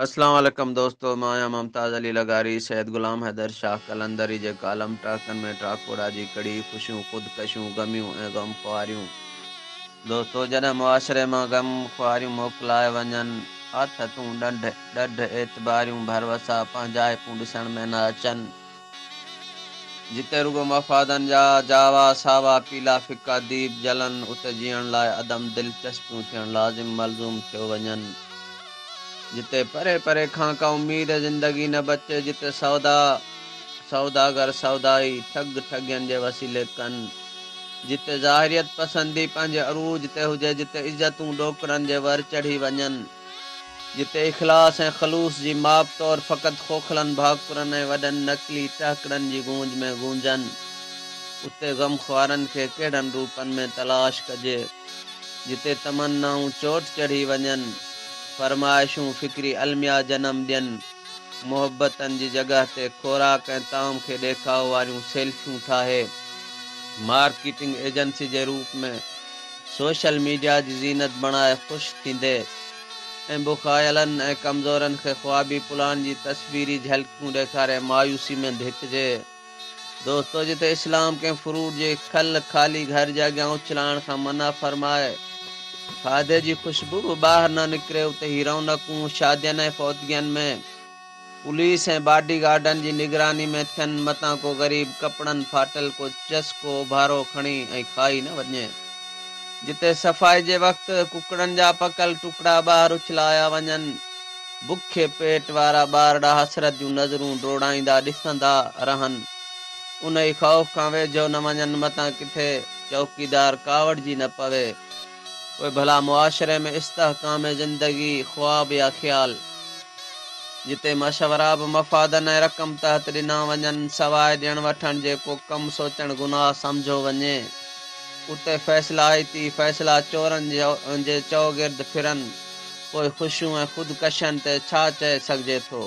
اسلام عليڪم دوستو مان آهيان ممتاز علي لغاري سيد غلام حيدر شاهه قلندري جي ڪالم ٽاڪن ۾ ٽاڪوڙا جي ڪڙي خوشيون خودڪشيون غميون ۽ غم خواريون دوستو جڏهن معاشري مان غم خواريون موڪلائي وڃن آٿتون ڏنڍ ڏڍ اعتباريون ڀروسا پنهنجائپون ڏسڻ ۾ نه اچن جتي رڳو مفادن جا جاوا، ساوا، پيلا ڦڪا ديپ جلن، اتي جيئڻ لاء عدم دلچسپيون ٿيڻ لازم ملزوم ٿيو وڃن. جتي پري پري کان ڪا اميد زندگي نه بچي، جتي سودا، سوداگر، سودائي، ٺڳ، ٺڳين جي وسيلي ڪن، جتي ظاهريت پسندي پنهنجي عروج تي هجي، جتي عزتون ڏوڪڙن جي ور چڙهي وڃن. جتي اخلاص ۽ خلوص جي ماپ طور فقط کوکلن ڀاڪرن ۽ وڏن نقلي ٽهڪڙن جي گونج ۾ گونجن، اتي غم خوارن کي ڪهڙن روپن ۾ تلاش ڪجي. جتي تمنائون چوٽ چڙهي وڃن، فرمائشون فڪري الميا جنم ڏين، محبتن جي جڳهه تي خوراڪ ۽ طعام کي ڏيکاء واريون سيلفيون ٺاهي مارڪيٽنگ ايجنسي جي روپ ۾ سوشل ميڊيا جي زينت بڻائي خوش ٿيندي ۽ بکايلن ۽ ڪمزورن کي خوابي پلان جي تصويري جهلڪيون ڏيکاري مايوسي ۾ ڌڪجي. دوستو جتي اسلام ڪنهن فروٽ جي کل خالي گهر جي اڳيان اڇلائڻ کان منع فرمائي کاڌي جي خوشبو به ٻاهر نه نڪري اتي هي رونقون شادين ۽ فوتگين ۾ پوليس ۽ باڊي گارڊن جي نگراني ۾ ٿين متان ڪو غريب ڪپڙن ڦاٽل ڪو چس ڪو اوڀارو کڻي ۽ کائي نه وڃي. جتي صفائي جي وقت ڪڪڙن جا پڪل ٽڪڙا ٻاهر اڇلايا وڃن. بکي پيٽ وارا ٻار ڏانهن حسرت جون نظرون ڊوڙائيندا ڏسندا رهن. انهي خوف کان ويجهو نه وڃن متان ڪٿي چوڪيدار ڪاوڙجي نه پوي. پوء ڀلا معاشري ۾ استحڪام زندگي خواب يا خيال جتي مشورا به مفادن ۽ رقم تحت ڏنا وڃن سواء ڏيڻ وٺڻ جي ڪو ڪم سوچڻ گناهه سمجهيو وڃي اتي فيصلائتي فيصلا چورن جي چؤگرد ڦرن پوء خوشيون ۽ خودڪشين تي ڇا چئي سگهجي ٿو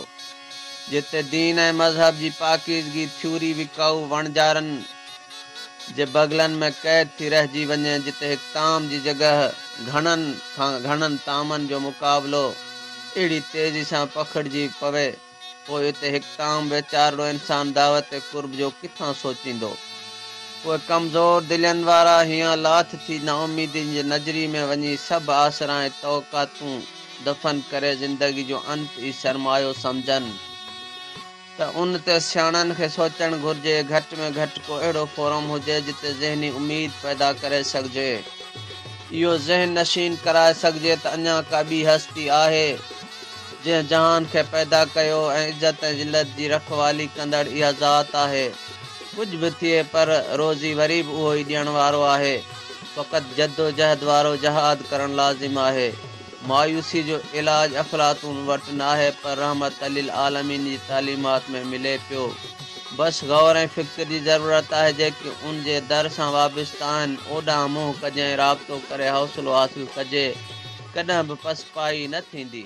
جتي دين ۽ مذهب جي پاڪيزگي ٿيوري وڪائو وڻجارن جي بغلن ۾ قيد ٿي رهجي وڃي جتي هڪ طعام جي جڳهه گهڻن کان گهڻن طعامن جو مقابلو اهڙي تيزي سان پکڙجي پوي پوء اتي هڪ طعام ويچارڙو انسان دعوت قرب جو ڪٿان سوچيندو؟ پوء ڪمزور دلين وارا هيان لاٿ ٿي نااميدين جي نجري ۾ وڃي سڀ آسرا ۽ توقعاتون دفن ڪري زندگي جو انت ئي سرمايو سمجهن. ته ان تي سياڻن کي سوچڻ گهرجي، گهٽ ۾ گهٽ ڪو اهڙو فورم هجي جتي ذهني اميد پيدا ڪري سگهجي. اهو ذهن نشين ڪرائي سگهجي ته اڃا ڪا ٻي هستي آهي، جنهن جهان کي پيدا ڪيو ۽ عزت ۽ ذلت جي رکوالي ڪندڙ اها ذات آهي. ڪجهه به ٿئي پر روزي وري به اهو ئي ڏيڻ وارو آهي. فقط جدوجهد وارو جهاد ڪرڻ لازم آهي. مايوسي جو علاج افلاطون وٽ ناهي پر رحمت للعالمين جي تعليمات ۾ ملي پيو. بس غور ۽ فڪر جي ضرورت آهي جيڪي ان جي در سان وابسته آهن اوڏانهن منهن ڪجي ۽ رابطو ڪري حوصلو حاصل ڪجي ڪڏهن به پسپائي نه ٿيندي.